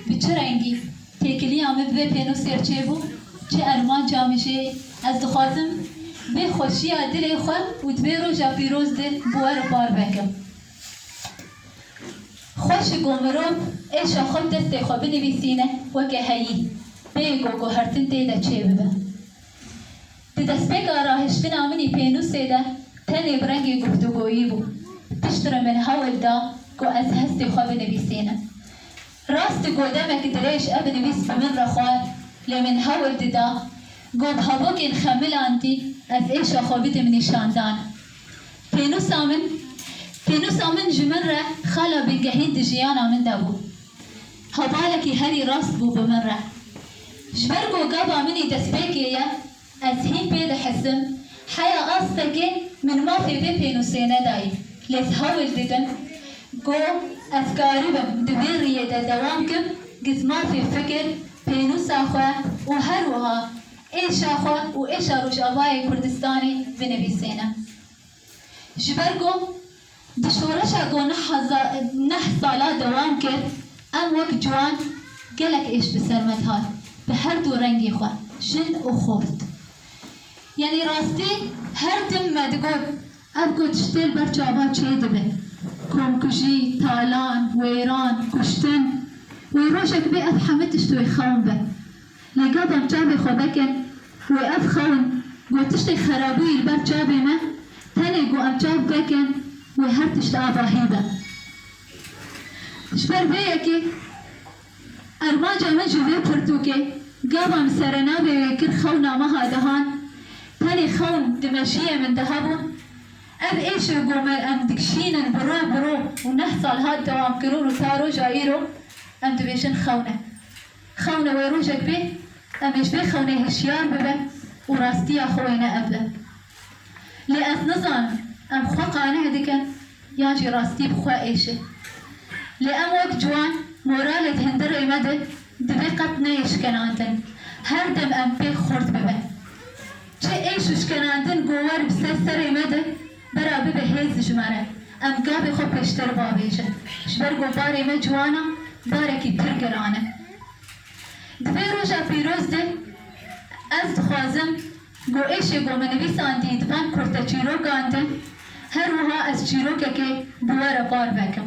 Bi çi rengî têkiliya min bi vê pênûsê re çêbû, çi armanca min jê ye? Ez dixwazim vê xweşiya dilê xwe û di vê roja pîroz de bi we re par bikim. Xweş e ku mirov êşa xwe bi destê xwe binivîsîne weke heyî, bêyî ku guhertin tê de çêbibe. Di destpêka rahiştina min ê pênûsê de tenê bi rengê guftûgoyî bû. Pişt re min hewl da ku ez hestê xwe binivîsînim. Rast ku demek dirêj ev nivîs bi min re xwar lê min hewl dida ku bi hevokên xemilantî ez êşa xwe bidim nîşandan. Pênûsa min Pênûsa min ji min re xala bingehîn di jiyana min de bû. Hevalekî herî rast bû bi min re. Ji ber ku gava min ê destpêkê ye, ez hîn pê dihizim, heya astekê min mafê vê pênûsê nedayî, lê ez hewl didim ku ez karibim di vê riyê de dewam bikim, giz mafê fikir, pênûsa xwe û herwiha êşa xwe û êşa Rojavayê Kurdistanê binivîsînim. Ji ber ku di şoreşa ku neh hezar neh sala dewam kir, em wek ciwan gelek êş bi ser me dihat bi her du rengî xwe, jin û xort. Yanî rastî her tim me digot ev ku tiştê li ber çavan çê dibe, komkujî, talan, wêran, kuştin, wê rojek bê ev hemû tişt wê xewn be. Lê gadan çavê xwe veke ku wê ev xewin ku tiştêk xerabûyî li ber çavê me tenê ku em çav veke wê her tişt avahî be. Ji ber vê yekê armanca min ji vê pirtûkê gadan li serenavê wê kir xewna meha dehan tenê xewn di meşiyê min de hebû. Ev êşe ku me em dikişînin bi ro bi ro û neh sal hat dewamkirûn û ta roja îro em dibêjin xewne. Xewne wê rojek bê em ê ji vê xewnê hişyar bibin û rastiya xwe wê neebin. Lê ez nizanim em xwe qaneh dikin yan jî rastî bi xwe êşe. Lê em wek ciwan moralek hin di rê me de divê qet neyê şikenandin. Her dem em pêk xurt bibin. Çi êş û şikenandin gower bi ser serê me de, Bera bibe hêz ji me re. Em gavê xwe pêşter bavêjin. Ji ber ku barê me ciwan e, barekî pir giran e. Di vê roja pîroz de ez dixwazim ku êşê ku min nivîsandî di van kurteçîrokan de her wiha ez çîrokekê bi we re parve kim.